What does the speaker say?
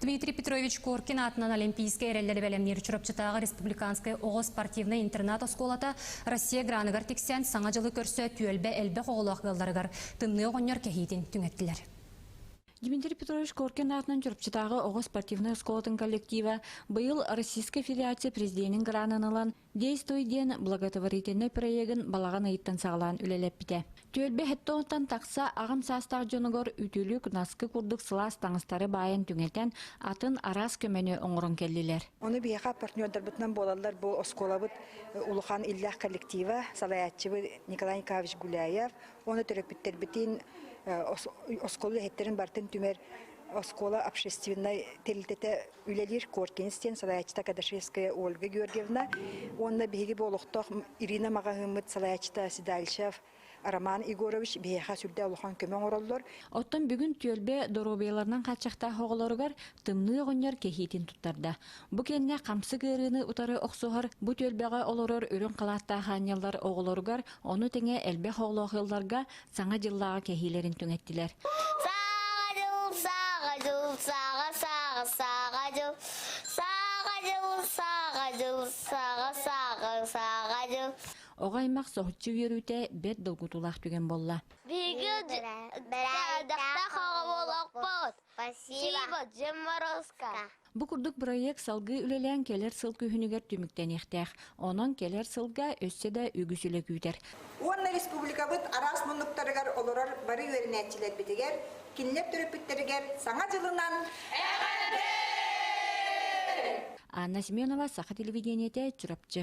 Дмитрий Петрович Коркин аатынан Олимпийскай эрэллэри бэлэмниир Чурапчытааҕы республиканскай оҕо спортивнай интернат-оскуолата Россия граныгар тиксэн Саҥа дьылы көрсө түөлбэ элбэх оҕолоох ыалларыгар тымныы оҕонньор кэһиитин түҥэттилэр. Дмитрий Петрович Коркин аатынан Чурапчытааҕы оҕо спортивнай оскуолатын коллектива быйыл Российская Федерация президенин гранын ылан Действуй диэн благотворительнай проегын балаҕан ыйыттан саҕалаан үлэлэппитэ. Түөлбэ хэттоҕуттан тахса аҕам саастаах дьонугар үтүлүк, наскы курдук сылаас таҥастары баайан түҥэтэн, атын араас көмөнү оҥорон кэллилэр. Ону биһиэхэ партнердарбытынан буолаллар бу оскуолабыт улахан иллээх коллектива, салайааччыбыт Николай Николаевич Гуляев уонна төрөппүттэрбитин оскуола үлэһиттэрин барытын түмэр оскуола общественнай тэрилтэтэ үлэлиир Коркинс диэн салайааччыта Кадашевская Ольга Георгиевна уонна биһиги бу олохтоох Ирина маҕаһыыммыт салайааччыта Седальшев Роман Егорович биһиэхэ сүрдээх улахан көмө оҥороллор. Оттон бүгүн түөлбэ доруобуйаларынан хааччахтаах оҕолоругар тымныы оҕонньор кэһиитин туттарда. Бу кэннэ хамсык ыарыыны утары охсуһар бу түөлбэҕэ олорор үрүҥ халааттаах аанньаллар оҕолоругар, ону тэҥэ элбэх оҕолоох ыалларга Саҥа дьыллааҕы кэһиилэрин түҥэттилэр. Саҕа дьыл, саҕа дьыл, саҕа, саҕа, саҕа дьыл, саҕа дьыл, саҕа дьыл, саҕа, саҕа, саҕа дьыл. Оҕо аймах соһуччу үөрүүтэ бэрт долгутуулаах түгэн буолла. Биһиги бэрээдэктээх оҕо буолуохпут. Спасибо, Дьим Морозко. Бу курдук бырайыак салгыы үлэлээн кэлэр сыл күһүнүгэр түмүктэниэхтээх. Онон кэлэр сылга өссө да үгүс үлэ күүтэр. Уонна республикабыт араас муннуктарыгар олорор бары үөрэнээччилэрбитигэр, кинилэр төрөппүттэригэр Саҥа дьылынан Анна Семенова, Саха телевидениетэ, Чурапчы.